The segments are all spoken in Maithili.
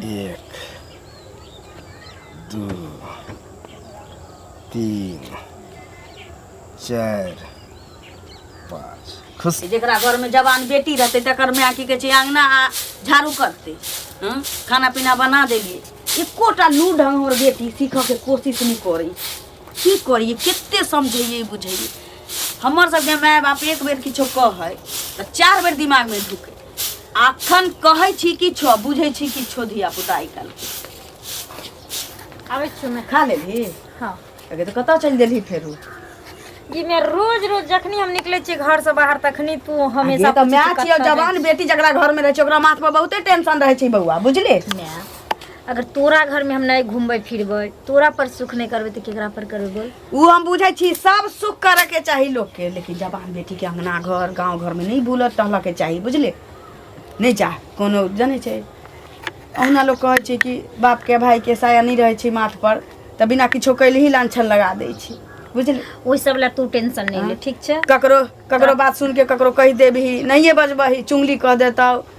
एक दू तीन चारि पाँच खुश जेकरा घर में जवान बेटी रहते तकर में आकी के अंगना आ झाड़ू करते हं? खाना पीना बना देलिए एकोटा लू ढंग हमर बेटी सीखऽ के कोशिश नहीं करी की करिए कते समझैए बुझैए हमर सबके माय बाप एक बेर किछो कह है तो चार बेर दिमाग में ढुके अखन कहै छी किछो बुझै छी किछो धिया पुता आइ काल्हि आबै छियौ मैं खा लेबही हाँ अगे तऽ कतऽ चलि देलही फेरू जी मैं रोज रोज जखनी हम निकले छी घर से बाहर तखनी तू हमेशा हमेशा तऽ माय छियौ जवान बेटी जकरा घर में रहै छै ओकरा माथ पर बहुते टेंशन रहै छै बौआ बुझले मैं अगर तोरा घर में हम नहीं घूमबे फिरबे तोरा पर सुख नहीं करबे तो केकरा पर करबे बोल उ हम बुझे छी सब सुख करे के चाही लोग के लेकिन जबान बेटी के अंगना घर गांव घर में नहीं बुलत टहल के चाही बुझले नहीं जा कोनो जाने छै अहुना लोग कहे छै कि बाप के भाई के साया नहीं रहे छै माथ पर त बिना किछो कैले ही लांछन लगा दे छी बुझले ओहि सब ला तू टेंशन नहीं ले ठीक छै ककरो ककरो बात सुन के ककरो कह देबही नहिए बजबही चुंगली कह देतौ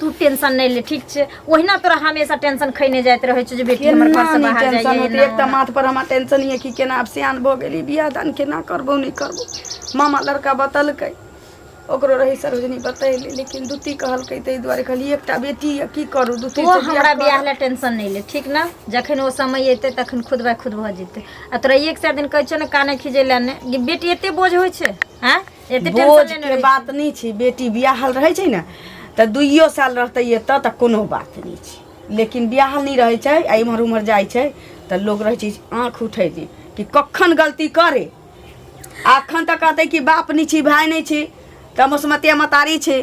तू टेंशन नहीं ले ठीक छे ओहिना तोरा हमेशा टेंशन खैने जात रहे छे जे बेटी हमर घर से बाहर जाइए टेंशन होती एक माथ पर हमार टेंशन ही है कि केना अब सियान भो गेली बियाह दान केना करबो नहीं करबो मामा लड़का बतलक ओकरो रही सरोजनी बतैली लेकिन दूती कहलकै ताहि दुआरे कहली एकटा बेटी यऽ की करू दूती तो हमरा बियाह ले टेंशन नहीं ले ठीक ना जखन ओ समय एते तखन खुद बाय खुद भऽ जेतै आ तोरा एक चार दिन कहै छौ ने काने खिजे ले ने बेटी एते बोझ होइ छै हैं एते टेंशन बोझ लेने के रहै बात नहि छै बेटी बियाहल रहै छै ने तऽ दुइयो साल रहतै एतऽ तऽ कोनो बात नहि छै लेकिन बियाहल नहि रहै छै आ इम्हर उम्हर जाइ छै तऽ लोक रहै छै आँख उठै छै कि कखन गलती करे अखन तऽ कहतै कि बाप नहि छी भाय नहि छी तऽ मसमतिया मतारी छी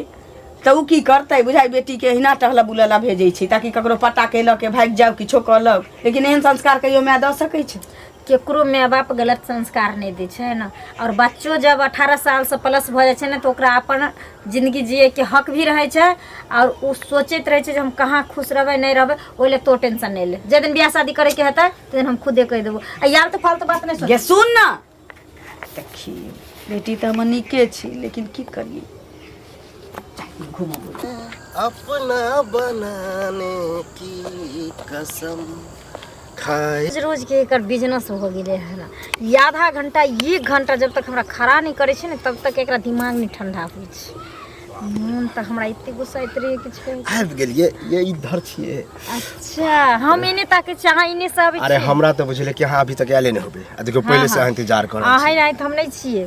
तऽ ओ की करतै बुझाइ बेटीके अहिना टहलऽ बुलऽ ला भेजै छै ताकि ककरो पट्टा केलक के भागि जाउ किछो कहलक लेकिन एहन संस्कार कहियो माय दऽ सकै छै ककरो माइ बाप गलत संस्कार नहि दै छै ने आओर बच्चो जब अठारह सालसँ प्लस भऽ जाइ छै ने तऽ ओकरा अपन जिनगी जियैके हक भी रहै छै आओर ओ सोचैत रहै छै जे हम कहाँ खुश रहबै नहि रहबै ओहि लए तो टेंशन नहि ले जाहि दिन बियाह शादी करैके हेतै ताहि दिन हम खुदे कहि देबो आ यार तऽ फालतू बात नहि सोच गे सुन ने देखी बेटी तऽ हमर नीके छी लेकिन की करियै अपना बनाने की कसम रोज रोजके एकर बिजनेस भऽ गेलै हन ई आधा घण्टा एक घण्टा जब तक हमरा खड़ा नहि करै छै ने तब तक एकरा दिमाग नहि ठण्डा होइ छै मोन तऽ हमरा एते गुस्सा एते रहै किछु कहै के। आबि गेलिए ये इधर छिए अच्छा हम एने ताके छी अहाँ एने से आबै अरे छी हमरा तऽ बुझले कि अहाँ अभी तक आयले नहि होबे आ देखियौ पहिले से अहाँ इंतजार कर रहल छी। अहाँ आइ तऽ हम नहि छियै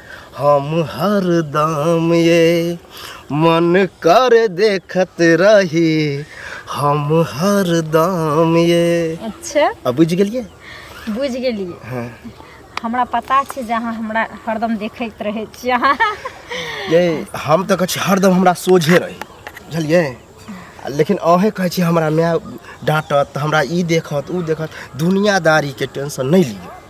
हम हरदम ये मन कर देखत रही हम हरदम ये अच्छा अब बुझ गलिए बुझ गलिए हाँ। हमरा पता छै जे अहाँ हमरा हरदम देखैत रहै छी अहाँ ये हम तऽ कहै छी हरदम हमरा सोझे रही बुझलिए लेकिन अहे कहै छी हमरा माय डाँटत हमरा ई देखत ओ देखत दुनियादारीके टेंशन नहि लिअ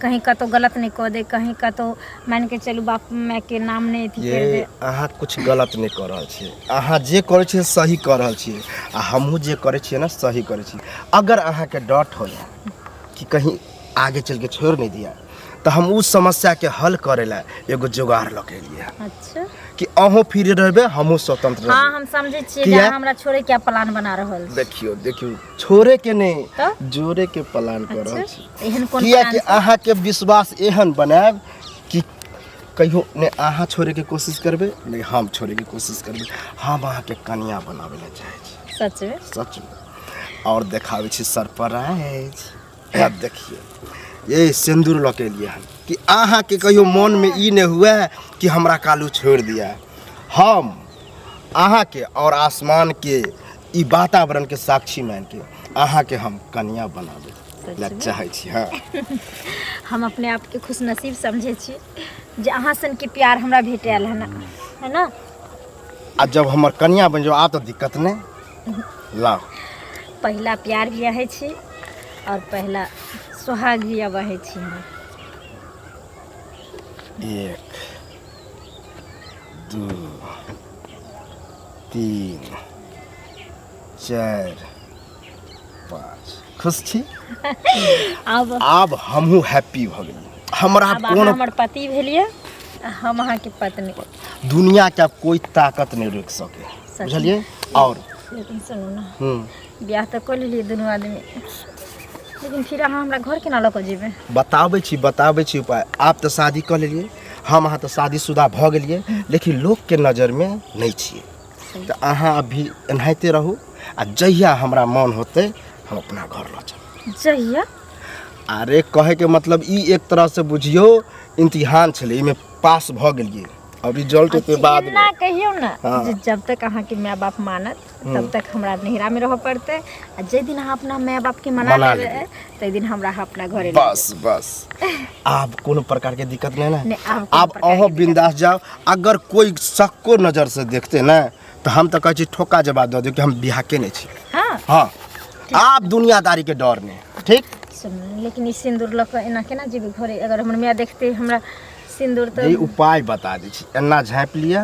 कहीं कतहु गलत नहि कऽ दे कहीं कतहु मानि कऽ चलू बाप मायके नाम नहि अथी करि दे अहाँ किछु गलत नहि कऽ रहल छियै अहाँ जे करै छियै सही कऽ रहल छियै आ हमहूँ जे करै छियै ने सही करै छियै अगर अहाँके डट हो कि कहीं आगे चल के छोड़ नहीं दिया तो हम उस समस्या के हल करे ला एगो जुगाड़ लऽ के लिए अच्छा कि अहूँ फ्री रहबे हमहूँ स्वतंत्र हाँ रहबे हम समझे छियै जे किया? अहाँ हमरा छोड़े के प्लान बना रहल छी देखियो देखियो छोड़े के नहीं त? जोड़े के प्लान कर रहल छी अच्छा एहन कोन किया कि प्लान अहाँ के विश्वास एहन बनाएब कि कहियो ने अहाँ छोड़े के कोशिश करबे ने हम छोड़े के कोशिश करबे हम अहाँ के कन्या बनावे ला चाहे छी सच में सच में और देखावे छी सरप्राइज है देखिए ये सिंदूर लऽ के लिए हम कि अहाँ के कहियो मन में ई नहीं हुआ कि हमरा कालू छोड़ दिया हम अहाँ के और आसमान के ई वातावरण के साक्षी मान के अहाँ के हम कन्या बनाबे ला चाहे छी हाँ हम अपने आप के खुश नसीब समझे छी जे अहाँ सन के प्यार हमरा भेटल है ना है ना आ जब हमर कन्या बन जाओ आ तो दिक्कत नहीं लाओ पहला प्यार भी है छी और पहला सुहाग भी अब है छी हम एक दू तीन चारि पाँच खुश छी आब आब हमहूँ हैप्पी भऽ गेलहुँ हमरा आब अहाँ कोनो हमर पति भेलियै आ हम अहाँके पत्नी दुनिया के आब कोई ताकत नहीं रोक सके सही। बुझलिए और लेकिन सुनू ने हम्म, बियाह तऽ कऽ लेलियै दुनू आदमी लेकिन फिर अहाँ हमरा घर केना लऽ कऽ जेबै बताबै छी बताबै छी उपाय आब तऽ शादी कऽ लेलिए हम अहाँ तऽ शादीशुदा भऽ गेलिए लेकिन लोक के नजर में नहीं छे तऽ अहाँ अभी एनाहिते रहू आ जहिया हमरा मन होते हम अपना घर लऽ चल जहिया अरे कहे के मतलब ई एक तरह से बुझियो इम्तिहान छे इमे पास भऽ गेलिए और रिजल्ट के बाद ना कहियो ना हाँ। जब तक अहाँ के माय बाप मानत तब तक हमरा नैहरा में रह पड़ते आ जे दिन अहाँ अपना माय बाप के मना मना लेबे ते दिन हमरा अहाँ अपना घरे ले बस बस आब कोनो प्रकार के दिक्कत नहीं ना नहीं, आब कोनो आब प्रकार अहो के बिंदास जाओ अगर कोई सक्को नजर से देखते ना तो हम तो कहे छी ठोका जवाब दे दो कि हम बिहा के नहीं छी हाँ हाँ आप दुनियादारी के डर में ठीक सुन लेकिन ई सिंदूर लऽ कऽ एना केना जेबै घरे अगर हमर माय देखते हमरा सिंदूर जे तऽ उपाय बता दै छी एना झाँपि लिअ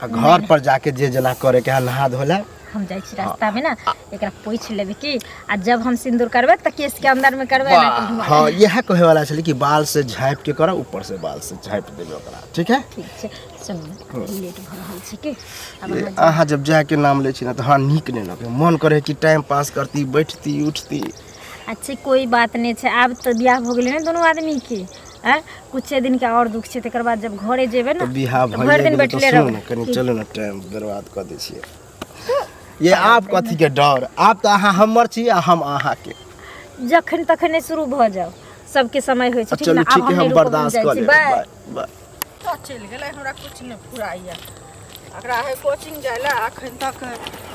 आ घर पर जाके जे जेना करे के है नहा धो ले हम जाइ छी रास्ता में ना एकरा पोछि लेबे की आ जब हम सिंदूर करबै तऽ केश के अंदर में करबै ना तऽ घुमा हाँ यह कहे वाला छलै कि बाल से झाँपि के करब ऊपर से बाल से झाँपि देबे ओकरा ठीक है ठीक छै सुन लेट भऽ रहल छै की आब ये अहाँ अहाँ जब जाके नाम लै छी ना तऽ हमरा नीक नहि लगे मन करे कि टाइम पास करती बैठती उठती अच्छा कोई बात नहि छै आब तऽ बियाह भऽ गेलै ने दुनू आदमी के हैं कुछे दिन के और दुख छे तकर बाद जब घरे जेबे ना बिहा तो भर दिन बैठले रहो कनी चलो ना टाइम बर्बाद कर दे छिए ये आप कथी के डर आप तो अहाँ हमर छी आ हम अहाँ के जखन तखने शुरू भ जाओ सबके समय होय छै ठीक ना अब हम बर्दाश्त कर ले बाय बाय तो चल गेले हमरा कुछ नै फुराइया अकरा है कोचिंग जायला अखन तक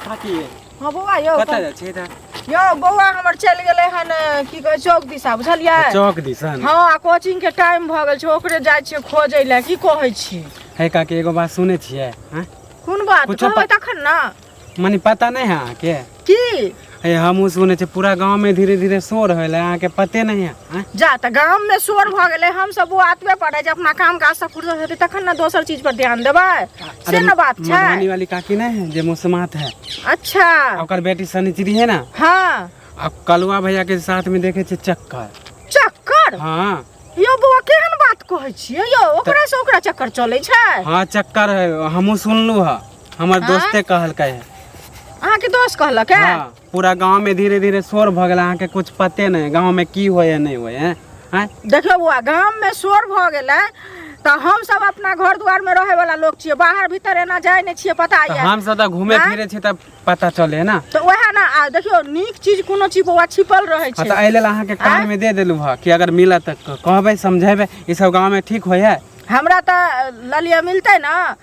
बाकी हँ बौआ यौ कतऽ जाइ छी तऽ यौ बौआ हमर चलि गेलै हन अ, की कहै चौक दिशा बुझलियै चौक दिसन हँ आ कोचिंग के टाइम भऽ गेल छै ओकरे जाइ छियै खोजै लए की कहै छी हे काकी एगो बात सुनै छियै हैं? कोन बात कुछो कहबै पत- तखन ने मने पता नहि है अहाँके की हे हमहूँ सुनै छियै पूरा गाँवमे धीरे धीरे शोर होइले अहाँके पते नहि है जा तऽ गाममे शोर भऽ गेलै हमसभ ओ आतबे पड़ै जे अपना काम काजसँ फुर्सत हेतै तखन ने दोसर चीज पर ध्यान देबै से ने बात छै मधुबनी वाली काकी नहीं है जे मुसमात है अच्छा ओकर बेटी सनिचरी है ना हाँ आ कलुआ भैया के साथ में देखे छे चक्कर चक्कर हाँ यो बौआ केहन बात कहै छियै यो ओकरा से ओकरा चक्कर चलै छै हाँ चक्कर है हमहूँ सुनलू है हमर हाँ? दोस्ते कहलकै है अहाँके दोस्त कहलक है हाँ। पूरा गाँव में धीरे धीरे शोर भऽ गेल अहाँके कुछ पते नहि गाँव में की होय है नहि होय है आँय? देखियौ बौआ गाममे शोर भऽ गेलै तऽ हमसभ अपना घर दुआरमे रहैवला लोक छियै बाहर भीतर एना जाइ नहि छियै पता तऽ यऽ हमसभ तऽ घूमे आँय? फिरे छी तऽ पता चले है ना तऽ उएह ने आ देखियौ नीक चीज कोनो चीज बौआ छिपल रहै हँ, छै तऽ एहि लेल अहाँके कान में दे देलू हँ कि अगर मिलत तऽ कहबै समझेबै ई सब गाँव में ठीक होय है हमरा तऽ ललिया मिलतै ने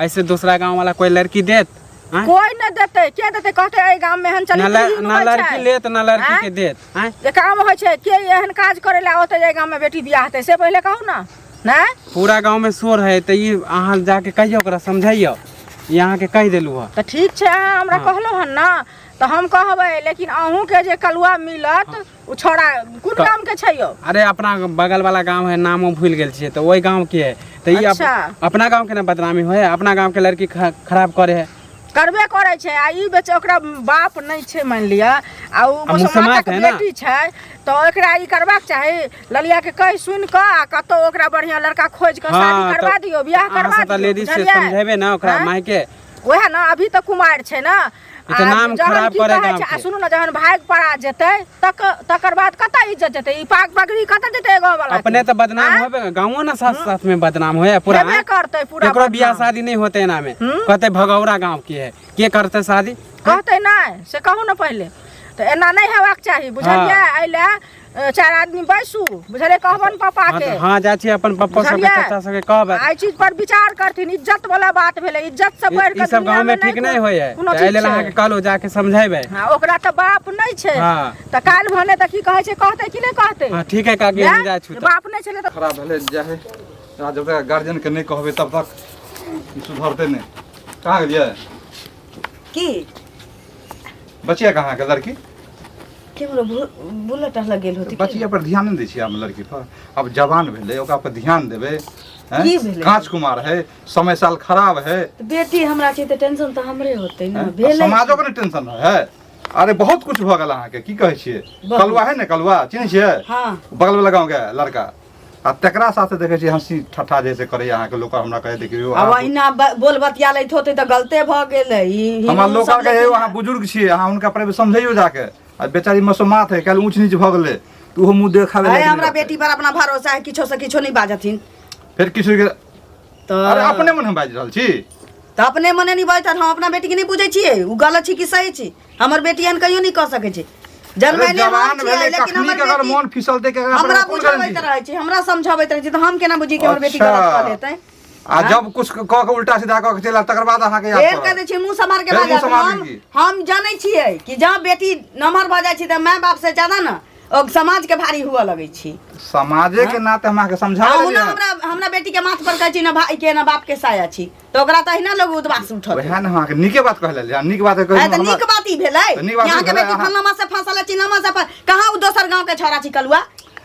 ऐसे दूसरा गांव वाला कोई लड़की देत आँय? कोई न देते के देते कहते ए गांव में हन चली ना ल- चली ना होय लड़की छै। लेत ना लड़की आँय? के देत आँय? जे काम होय छै के एहन काज करे ला ओते ए गांव में बेटी बियाह हेतै से पहिले कहू ना नै पूरा गांव में शोर है तो ये अहाँ जाके कहियो ओकरा समझाइयो ये अहाँ के कह देलू है तऽ ठीक छै अहाँ हमरा कहलहुँ हन ने तऽ हम कहबै लेकिन अहूँके जे कलुआ मिलत ओ छोड़ा कोन तऽ- गाम के छै यौ अरे अपना बगल वाला गांव है नामो भूल गेल छियै तऽ ओहि गांव के है तऽ ई अप- अच्छा। अपना गांव के ना बदनामी होय है अपना गांव के लड़की ख- खराब करे है करबे करै छै आ ई बेच ओकरा बाप नहि छै मानि लिअ आ ओ मुसलमान मुसलमानक है ना। बेटी छै तऽ एकरा ई करबाक चाही ललिया के कहि सुनि कऽ आ कतौ ओकरा बढ़िया लड़का खोज कऽ शादी हाँ, करबा तऽ दियौ बियाह अहाँ करबा सब तऽ दियौ लेडीज से बुझलियै समझेबे ना ओकरा हाँ? माय के वएह ने अभी तऽ कुमार छै ने ई तऽ आ नाम जहन खराब की करे कहै गाँव छै, आ के। सुनू ने जहन भागि पड़ा जेतै तक तकर बाद कतऽ इज्जत जेतै ई पाग पगड़ी कतऽ जेतै गाँव वाला अपने तऽ बदनाम होबे ने गाँवो ने साथ साथ में बदनाम होए पूरा हेबे हैं? करतै पूरा केकरो बदनाम। बियाह शादी नहीं होते एना में हम्म। कहते भगौरा गांव के है के करते शादी कहतै नहि से कहू ने पहिले तऽ एना नहि हेबाक चाही बुझलियै एहि लए ए, चारि आदमी बैसू बुझलियै कहबन पापा हाँ, के तो- हाँ जाइ छी अपन पप्पा सबके बुझलियै? चाचा सबके कहबै आ एहि चीज पर विचार करथिन इज्जत वाला बात भेलै इज्जत से बढ़ ई के सब गांव में ठीक नहीं होय है कोनो तो एहि चीज लेल छै। अहाँके कहलहुँ जाके समझेबै हाँ, ओकरा तऽ बाप नहि छै हाँ। तऽ काल्हि भने तऽ की कहै छै कहतै कि नहि कहतै हाँ ठीक है काकी हम जाइ छी तऽ बाप नहि छलै तऽ खराब भेलै जाइ है आ जब तक गार्जियन के नहि कहबै तब तक ई सुधरतै नहि कहाँ गेलियै की बचिया कहाँ के लड़की की बोलो बुलेट आर लग गेल होती बचिया पर ध्यान नहीं दै छियै हम लड़की पर अब जवान भेलै ओकरा पर ध्यान देबै हैं? की भेलै? कांच कुमार है समय साल खराब है तऽ बेटी हमरा छै तऽ टेंशन तऽ हमरे होतै ने हैं? भेलै समाजो के ने टेंशन रहे है अरे बहुत कुछ भऽ गेल अहाँके की कहै छियै बहुत। कलुआ है ने कलुआ चिन्है छियै हँ बगल वाला गाँव के लड़का आ तेकरा साथे देखै छी हँसी ठट्ठा जैसे करे अहाँके लोग हमरा कहे देखियो अब अहाँ- अहिना ब- बोल बतिया लैत होते तऽ गलते भऽ गेलै ई हिन्दू हमर लोग सब कहे लेकिन- अहाँ बुजुर्ग छियै अहाँ हुनका पर समझैयो जाके आ बेचारी मसोमात है कल ऊँच नीच भऽ गेलै तऽ ओहो मुँह देखाबे अरे लागि हमरा गेलै। बेटी पर अपना भरोसा है किछो से किछो नहीं बाजथिन फेर किछु के तऽ अरे अपने मन हम बाजि रहल छी तऽ अपने मने नहीं बाजत हम अपना बेटी के नहीं बुझे छियै उ गलत छी कि सही छी हमर बेटी एहन कहियो नहीं कह सके छै अरे जन्मैले हम जवान छियै, भेलै लेकिन कखनी हमर के अगर बेटी- मन फिसलते के अगर हमरा अपन कोन बुझाबैत गारंटी रहै छै हमरा समझाबैत रहै छै तऽ हम केना बुझी कि हमर बेटी अच्छा। गलत कऽ देतै आ जब कुछ कह के उल्टा सीधा कह के चला तकर बाद अहाँ के फेर याद कह पड़ल। दै छियै मुँह सम्हार के फेर बाजऽ मुँह सम्हार हम दीजिए। हम जानै छियै कि जहाँ बेटी नमहर भऽ जाइ छै तऽ माय बाप से ज्यादा ने ओ समाज के भारी हुअ लगै छी समाजे के नाते हम अहाँ के समझा अहुना देलियै हमरा हमरा बेटी के माथ पर कहै छी ना भाई के ना बाप के साया छी तो ओकरा तो अहिना लोग उदबास उठत वएह ने अहाँके नीके बात कहले जे नीक बात कहले अरे तो हमरा- नीक बात ई भेलै तऽ नीक बात यहाँ के भेलै, बेटी अहाँ- फलनामा से फंसल है चिन्नामा से फं- कहाँ उ दोसर गांव के छौरा छिकल हुआ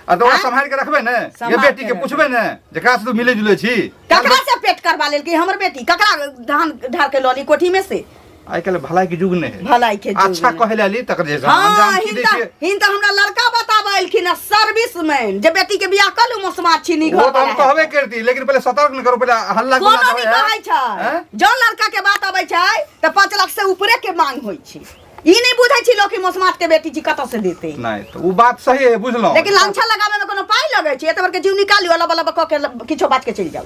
आ तो ओकरा आँय? सम्हारि के रखबै ने ये सम्हारि बेटी के के रखबै। पुछबै ने जे कहाँ से तू मिले जुले छी ककरा से पेट करवा लेल कि हमर बेटी ककरा धान ढार के लली कोठी में से आइ काल्हि भलाई के युग नहीं है भलाई के युग अच्छा नहीं। कहे ला ली तकर जैसा हाँ अंजाम की हिनका देखिए हिनका हमरा लड़का बताबऽ एलखिन सर्विस मैन जे बेटी के बियाह कलू मौसमा छिनी वो घर तो हम वाला है। कहबे करती लेकिन पहले सतर्क न करो पहले हल्ला कोनो गुल्ला नहीं कहै छै हैं? जौन लड़का के बात अबै छै तऽ पाँच लाख से ऊपरे के मांग होइ छै ई नहि बुझै छी लोग कि मौसमात के बेटी छी कतऽ से देतै नहीं तो वो बात सही है बुझलो लेकिन लांछा लगाबे में कोनो पाइ लगै छै एतबर के जीव निकालियो अला बला कऽ के किछो बात के चलि जाउ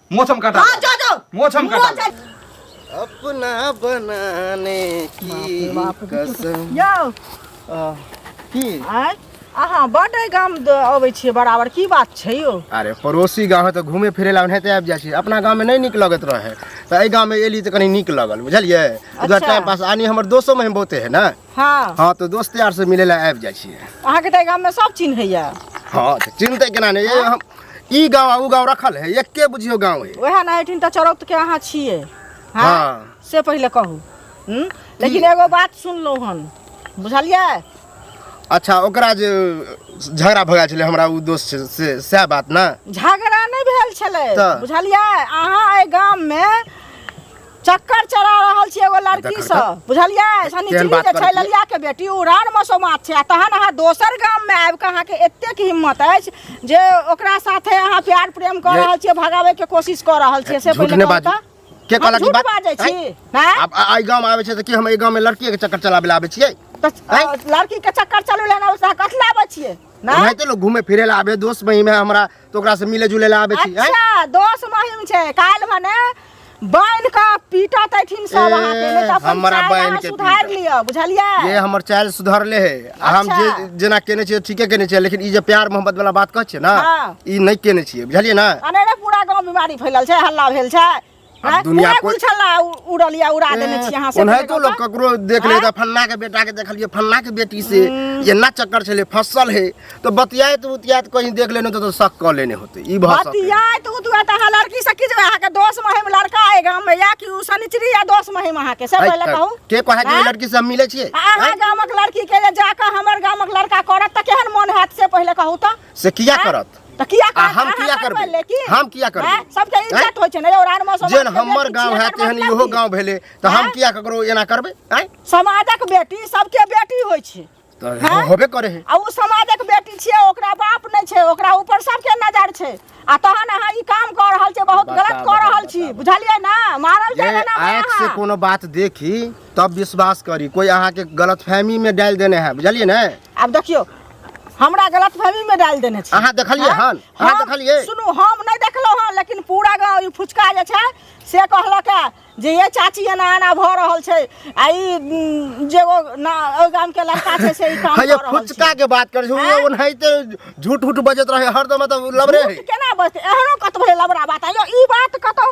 मोछ हम काटा हां जा जा मोछ हम काटा अपना बनाने की कसम यो की आय अहाँ बड गाम अबै छियै बराबर की बात छै यौ अरे पड़ोसी गाँव है तऽ घूमे फिरे ला ओनाहिते आबि जाइ छी अपना गाँव में नहीं निक लगत रहे तऽ एहि गाँव में एली तऽ कनी निक लगल बुझलियै उधर टाइम पास आनी हमर दोस्तों में बहुते है ना हँ हँ तऽ दोस्त यार से मिलै लए आबि जाइ छियै अहाँके तऽ एहि गाममे सब चिन्हैया हँ तऽ चिन्हतै केना नहि ये हम ई गाँव आ ओ गाँव रखल है एके बुझियौ गाँव है ओएह ने एहिठिन तऽ चरौतके अहाँ छियै हँ हँ। से पहिले कहू हूँ लेकिन एगो बात सुनलहुँ हन बुझलियै अच्छा ओकरा जे झगड़ा भऽ गेल छलै हमरा ओ दोस्त छै से सएह बात ने झगड़ा नहि भेल छलै तऽ? बुझलियै अहाँ एहि गाममे चक्कर चला रहल छी एगो लड़की से बुझलियै शनिचरी जे छै ललिया के बेटी ओ रान मसोमात छै आ तहन अहाँ दोसर गाम में आबि कऽ अहाँके एतेक हिम्मत अछि जे ओकरा साथे अहाँ प्यार प्रेम कऽ रहल छियै भगाबै के कोशिश कऽ रहल छियै से पहिले बात के कहला की बात बाजै छी हैं आब आई गाम आबै छै त की हम ए गाम में लड़की के चक्कर चलाबे ला आबै छियै लड़की के चक्कर चलू लेना कथला आबै छियै ना तो लोग घूमे फिरे ला आबे दोस्त महीमे हमरा तो ओकरा से मिले जुले ला आबे छी हैं? अच्छा दोस महिम छै काल्हि भने बान्हि कऽ पीटत अथिन सब ए, अहाँके नहि तऽ अपन हमरा चालि बान्हि अहाँ के सुधारि पीटत। लिअ बुझलियै ये हमर चाल सुधरले है आ हम अच्छा। जे जेना केने छियै ठीके केने छियै लेकिन ई जे प्यार मोहब्बत वाला बात कहै छियै ना हाँ। ई नहि केने छियै बुझलियै ना अनेरे पूरा गाँव बीमारी फैलल छै हल्ला भेल छै आँय, आब दुनिया पूरा कोइ गुलछल्ला उ- उड़ल या उड़ा देने छी अहाँ सब ओनाहितो लोग ककरो देख ले तऽ फल्ला के बेटा के देखलिए फल्ला के बेटी से एना चक्कर छले फसल है तो बतियात उतियात कहीं देख लेने तो शक क लेने होते ई भऽ सकैए। बतियाय तू तू तऽ अहाँ लड़की से की जेबै अहाँके दोस्त महिम लड़का अइ गाममे या कि उ शनिचरी या दोस्त महिम अहाँके से है, पहिले है, कहू के कहे के आँय? लड़की से हम मिले छियै अहाँ गामक लड़की के जे जाकऽ हमर गामक लड़का करत तऽ केहन मोन हैत से पहिले कहू तऽ से किया हैं? करत तऽ किया आ करत? हम अहाँ किया करबै? करबै लेकिन? हम किया करबै? हैं? सबके इज्जत हैं? होइ छै ने और आन मौसम जेन हमर गांव है तेहन इहो गांव भेलै तऽ हम हैं? किया ककरो एना करबै आँय समाजक बेटी सबके बेटी होइ छै तऽ हैं? होबे करे है आ ओ समाजक बेटी छियै ओकरा बाप नहि छै ओकरा ऊपर सबके नजर छै आ तहन अहाँ ई काम कऽ रहल छियै बहुत बताबऽ, गलत कऽ रहल छी बताबऽ। बुझलियै ने मारल जे जाएगा ना आँखि से अहाँ कोनो बात देखी तब विश्वास करी कोई अहाँके गलतफहमी में डालि देने है बुझलियै ने आब देखियो हमरा गलत फहमी में डाल देने छी अहाँ देखलिए हाँ? हन अहाँ हम- देखलिए सुनू हम नहीं देखलो हन लेकिन पूरा गांव ई फुचका जे छै से कहलक है जे ये चाची एना एना भ रहल छै आ ई उम, जे ओ ना ओ गाम के लड़का छै से ई काम हाँ कर ये रहल छै फुचका के बात करे छो हाँ? ओनाहिते झूठ उठ बजत रहे हरदम मतलब लबरे है झूठ केना बजतै एहनो कतबो लबरा बात आयो ई बात कतौ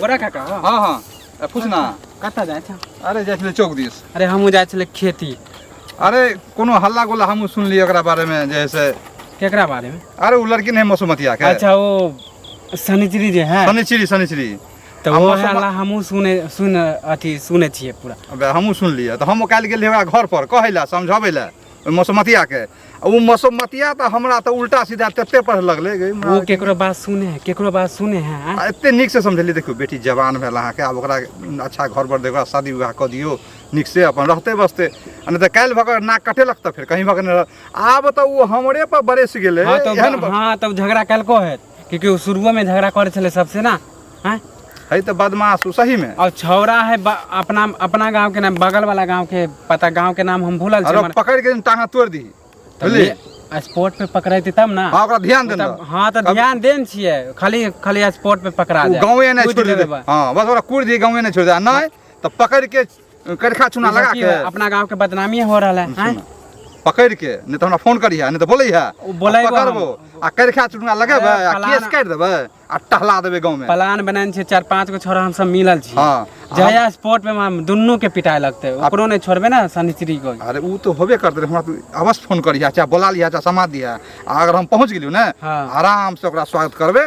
गोरा काका हो हाँ हाँ ए, पूछ ना कतऽ जाइ छऽ अरे जाइ छलै चौक दिस अरे हमहूँ जाइ छलै खेती अरे कोनो हल्ला गोला हमहूँ सुनलियै ओकरा बारेमे जे है से केकरा बारेमे अरे ओ लड़की नहीं मसुमतिया के अच्छा ओ शनिचरी जे है शनिचरी शनिचरी तऽ आ वो मौसम- हल्ला हमहूँ सुने सुन अथी सुने छियै पूरा अबे हमहूँ सुनलियै तऽ हम काल्हि गेलियै ओकरा घर पर कहै लए समझबै लए ओहि मौसमतिया के आ ओ मौसमतिया तऽ हमरा तऽ उल्टा सीधा तते पढ़ लगलै गै, हमरा ओ केकरो बात सुने है केकरो बात सुने है आ? आ एते नीक से समझलियै देखियौ बेटी जवान भेल अहाँके आब ओकरा अच्छा घर पर दे ओकरा शादी विवाह कऽ दियौ नीक से अपन रहते बसते आ नहि तऽ काल्हि भऽ कऽ नाक कटेलक तऽ फेर कहीं भऽ कऽ नहि रहत आब तऽ ओ हमरे पर बरसि गेलै हाँ तब एहन हाँ तब झगड़ा कलको है क्योंकि वो शुरुओ में झगड़ा करे छले सबसे ना हैं है तो बदमाश हूँ सही में और छौरा है ब- अपना अपना गांव के नाम बगल वाला गांव के पता गांव के नाम हम भूलल अरे छी पकड़ के टांगा तोड़ दी बुझली स्पोर्ट पे पकड़ेती तब ना हाँ ओकरा ध्यान देना तब- हाँ तो ध्यान देन छिए खाली खाली स्पोर्ट पे पकड़ा जाए गाँवे नहीं कूद छोड़ लेबे दे बा। हाँ बस ओकरा कूड़ दी गाँवे नहीं छोड़ दे आ नहीं तो पकड़ के करिखा चूना लगा के अपना गांव के बदनामी हो रहा है हैं? पकड़ के नहीं तो हमरा फोन करी है नहीं तो बोले है ओ, बोलैबो हम। पकड़बो आ करिखा चूना लगेबे अरे, आ फलाना- केस काट देबे आ टहला देबे गांव में प्लान बनाने छे चार पांच गो छोरा हम सब मिलल छी हाँ। जया स्पोर्ट में हम दुनू के पिटाए लगते ओकरो नहीं छोड़बे ना शनिश्री को अरे ऊ तो होबे करते रहे हमरा तो अवश्य फोन करिया चाहे बोला लिया चाहे समाज दिया आ अगर हम पहुंच गेलियो ना हाँ। आराम से ओकरा स्वागत करबे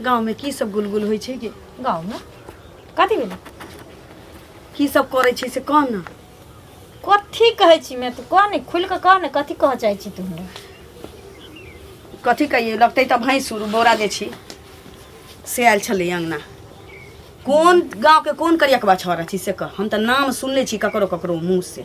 गाँवमे की सब गुलगुल होइ छै गे गाँवमे कथी भेलै की सब करै छै से कह ने कथी कहै छी मैं तू कह ने खुल के कह ने कथी कह चाहै छी तू हमरा कथी कहिए लगतै तऽ भैंसुर बोरा जे छी से आयल छलै अङ्गना कोन गाँवके कोन करियकबा छौड़ा छी से कह हम तऽ नाम सुनले छी ककरो ककरो मुँह से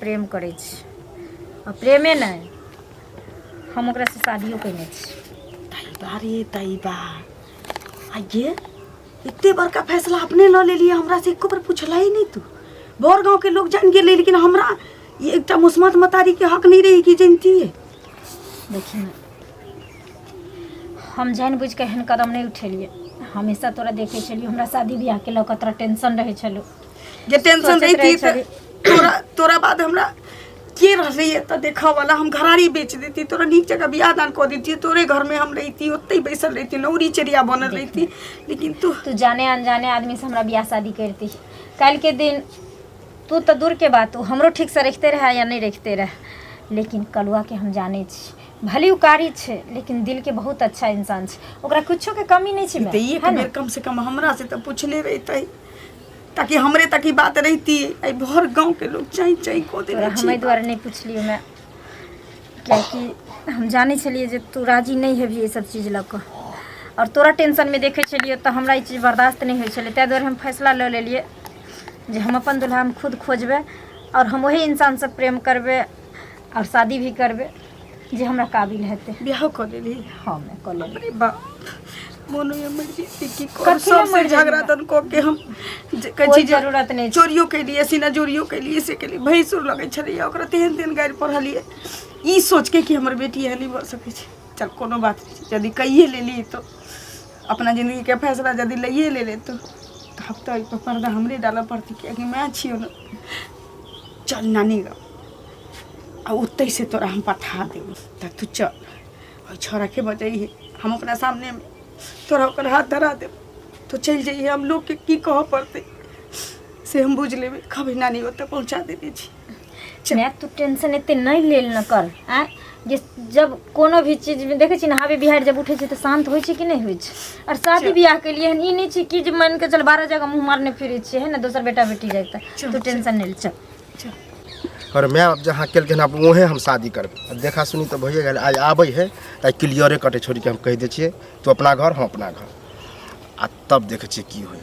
प्रेम करै छी आ प्रेमे नहि हम ओकरासँ शादियो कयने छी तैबा रे तैबा आ ये एते बड़का फैसला अपने लऽ लेलियै हमरा से एको बेर पुछलै ही नहि तू बड़ गाँव के लोग जान गेलै लेकिन हमरा ई एकटा मुस्मत मतारी के हक नहीं रही कि जानतियै देखी ना हम जानि बुझि कऽ एहन कदम नहि उठेलियै हमेशा तोरा देखै छलियौ हमरा शादी बियाहके लऽ कऽ तोरा टेंशन रहै छलौ जे टेंशन सोचैत रहै रहिती तऽ छली। तोरा तोरा बाद हमरा के रहले एते देखऽ वाला हम घरारी बेच देती तोरा नीक जकाँ बियाह दान कऽ देती तोरे घर में हम रहिती ओते बैसल रहिती नौरी चेरिया बनल रहिती लेकिन तू तू जाने अनजाने आदमी से हमरा बियाह शादी करती काल्हि के दिन तू तऽ दूर के बात तू हमरो ठीक से रखते रहे या नहि रखते रहे लेकिन कलुआ के हम जाने छी भले उ कारी छै लेकिन दिल के बहुत अच्छा इंसान छै ओकरा कुछो के कमी नहि छै तऽ माय, एक है ने? बेर कम से कम हमरा से तऽ पूछले रहितै ताकि हमरे तक ई बात रहती एहि भर गाँव के लोग चाई चाई को दे तोरा हम एहि दुआरे नहि पुछलियौ मैं कियाकि हम जानै छलियै जे तू राजी नहि हेबही एहि सब चीज लऽ कऽ आओर तोरा टेंशनमे देखै छलियौ तऽ हमरा ई चीज बर्दाश्त नहि होइ छलै ताहि दुआरे हम फैसला लऽ लेलियै जे हम अपन दुल्हा हम खुद खोजबै आओर हम ओही इंसानसँ प्रेम करबै आओर शादी भी करबै जे हमरा काबिल हेतै बियाह कऽ लेली हँ मैं कऽ लेबै अरे बा मोनो ये मर जेती की कथी कर ले सब मर से जेती झगड़ा बा? तन को के हम जे कहै कोई छी जे जरूरत नहीं छै। चोरियो के लिए सीना चोरियो के लिए से के लिए भैंसुर लगै छलै ओकरा तेहन तेहन गारि पढ़लिए ई सोच के कि हमर बेटी एहन नहि भऽ सकै छै चल कोनो बात नहि छै यदि कहिए लेली तो अपना जिंदगी के फैसला यदि लइए ले ले तो तब तऽ एहिपर पर्दा हमरे डालऽ पड़तै कियाकि माय छियौ ने चल नानी गाम आ ओतहि से तोरा हम पठा देब तऽ तू चल ओहि छौड़ाके बजैहे हम ओकरा सामनेमे तोरा ओकर हाथ धरा देब तू चलि जइहे हम लोकके की कहऽ पड़तै से हम बुझि लेबै कभी नानी ओतऽ पहुँचा देने छी चल। माय तू टेंशन एते नहीं लेल न कर आ जे जब कोनो भी चीज में देखे छी ना हावी बिहार जब उठे छी तो शांत होय छी कि नहीं होय छी और शादी ब्याह के लिए हन ई नहीं छी कि जे मान के चल बारह जगह मुंह मारने फिरे छी है ना दोसर बेटा बेटी जाए चल, तो टेंशन नहीं ले चल और माय बाप जहाँ कल हन आप वहे हम शादी करबे अब देखा सुनी तो भैया गल आज आबे है तो क्लियरे कटे छोड़ के हम कह दे छे तू अपना घर हम अपना घर आ तब देखे छे की होय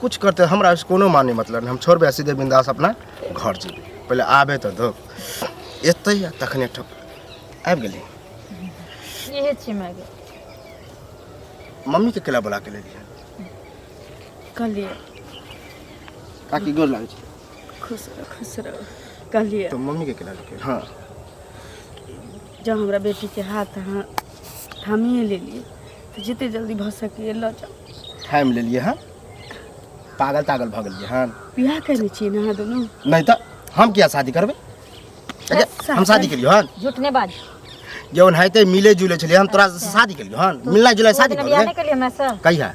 कुछ करते हमरा से कोनो माने मतलब हम छोड़बे सीधे बिंदास अपना घर जेबे पहले आबे तो दो एते तखने ठप आबि गेली इहे छी माय गे मम्मी के केला बुला के ले रही कहलिए काकी गोर लागै छै खुश रह खुश रह कहलिए तो मम्मी के केना रखे हां जब हमरा बेटी के हाथ हां थामिए ले लिए तो जिते जल्दी भ सके ल जा थाम ले लिए हां पागल तागल भ गेलिए हां बियाह करने छी ना हां दोनों नहीं तो हम क्या शादी करबे अच्छा हम शादी करियो हां झूठ ने बाज जौन है ते मिले जुले छले हम तोरा शादी करियो हां मिलना जुलना शादी करियो कहिया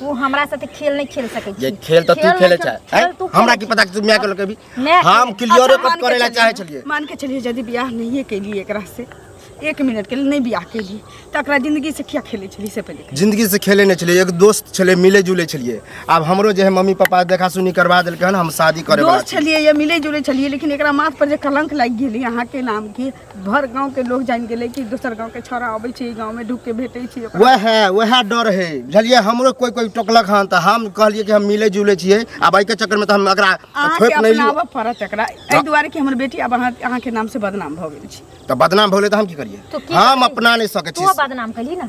तू हमरा साथे खेल नहीं खेल सके ये छी खेल तो तू खेल खेले नहीं चाहे खेल- खेल तू हैं? हमरा की पता कि तू मैं के लगे भी मैं हम खेल- क्लियर अच्छा, कट मान के करे ला चलिए, चाहे छलिए मान के चलिए यदि बियाह नहीं कैली एकरा से एक मिनट के लिए नहीं बियाह कैली तो एकरा जिंदगी से क्या खेले छली से पहले जिंदगी से खेले नहीं छलिए एक दोस्त छले मिले जुले छलिए अब हमरो जे है मम्मी पापा देखा सुनी करवा देलके हन हम शादी करे वाला दोस्त छलिए या मिले जुले छलिए लेकिन एकरा माथ पर जे कलंक लाग गेली अहाँ के नाम के भर गांव के लोग जान गेले कि दोसर गांव के छोरा आबै छै गांव में ढुक के भेटै छै वह वह डर है बुझलिए हमरो कोई कोई टोकलक हन त हम कहलिए कि हम मिले जुले छिए आ बाइक के चक्कर में त हम एकरा छोप नहीं लियो अपनावा पड़त एकरा ए दुआरे कि हमर बेटी अब अहाँ अहाँ के नाम से बदनाम भ गेल छी त बदनाम भले त हम की करिए हम अपना नहीं सके छी तू बदनाम कली ना